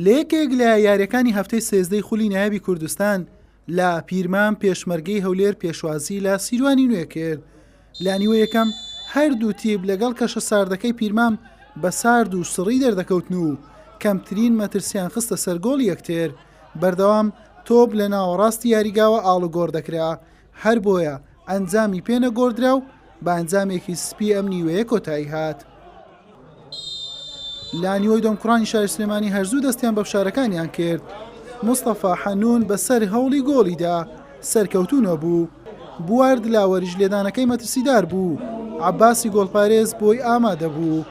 لە یەکێک لە یاریەکانی هەفتەی سێزدەی خولی نایابی کوردستان لە پیرمام پێشمەرگەی هەولێر پێشوازی لە سیروانی نوێ کرد لە نیوە یەکەم هەردوو تیب لەگەڵ کەشە ساردەکەی پیرمام بە سارد و سڕی دەردەکەوتن و کەمترین مەترسیان خستە سەرگۆڵ یەکتر بەردەوام تۆپ لە ناوەڕاستی یاریگاوە ئاڵوگۆڕ دەکرا هەر بۆیە ئەنجامی پێ نەگۆڕدرا و بە ئەنجامێکی سپی ئەم نیوەیە کۆتایی هات. لە نیوەی دۆم کوڕانی شاری سلێمانی هەرزوو دەستیان بە فشارەکانیان کرد. مستەفا حەنوون بەسەر هەوڵی گۆڵیدا سەرکەوتوو نەبوو. بوارد لاوەریش لێدانەکەی مەترسیدار بوو، عەباسی گۆڵپارێز بۆی ئامادە بوو.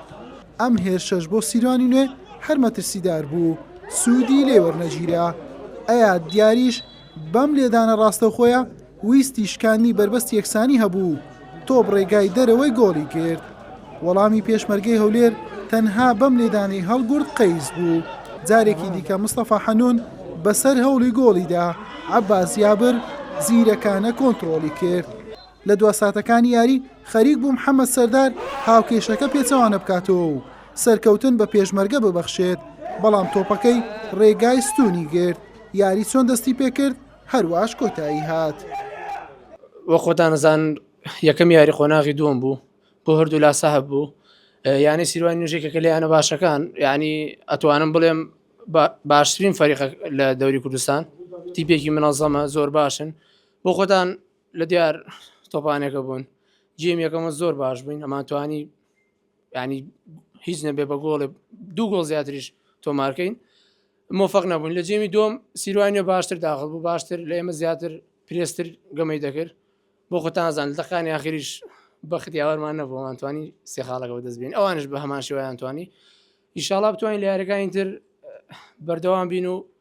ئەم هێرشەش بۆ سیروانی نوێ هەر مەترسیدار بوو، سوودی لێ وەرنەگیرا. ئەیاد دیاریش بەم لێدانە ڕاستەوخۆیە ویستی شکاندنی بەربەستی یەکسانی هەبوو و تۆپ ڕێگای دەرەوەی گۆڵی گرت. وەڵامی پێشمەرگەی هەولێر تەنها بەم لێدانەی هەڵگورد قەیس بوو. جارێکی دیکە مستەفا حەنون بەسەر هەوڵی گۆڵیدا عەباس جابر زیرەکانە کۆنتڕۆڵی کرد. لە دوا ساتەکانی یاری خەریک بوو محەمەد سەردار هاوکێشەکە پێچەوانە بکاتەوە و سەرکەوتن بە پێشمەرگە ببەخشێت، بەڵام تۆپەکەی رێگای ستوونی گرت، یاری چۆن دەستی پێکرد هەرواش کۆتایی هات. وەک خۆتان ئەزان یەکەم یاری قۆناغی دووەم بوو بۆ هەردوو لا سەهب بوو یانی سیروانی نوژێکەکە لە یانە باشەکان یعنی ئەتوانم بڵێم باشترین فەریق لە دەوری کوردستان تیپێکی منەزەمە زۆر باشن بۆ خۆتان لە دیار تۆپانێکە بوون جیم یەکەمە زۆر باش بووین ئەمان توانی ینی هیچ نەبێ بە گۆڵێ دوو گۆڵ زیاتریش تۆمارکەین مۆفق نەبوون لە جێمی دۆم سیروانە باشتر داخل بوو باشتر لە ئێمە زیاتر پرێستر گەمەی دەکرد بۆ خۆتانزان دەقانی یاخریش بەخدیاوەرمان نەبوومان توانی سێ خاڵەکە بەدەست بین ئەوانش بە هەمان شێوایان توانی ئیشاڵا بتوانین لە یارەکانی تر بەردەوام بین و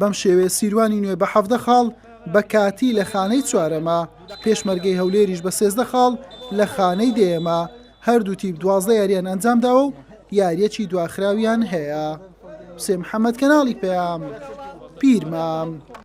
بەم شێوەیە سیروانی نوێ بە حەڤدە خاڵ بە کاتی لە خانەی چوارەمە، پێشمەرگەی هەولێریش بە سێزدە خاڵ لە خانەی دەیەمە، هەردوو تیپ دوازدە یارییان ئەنجامداوە و یارییەکی دواخراویان هەیە. حوسێن محەمەد، کەناڵی پەیام، پیرمام.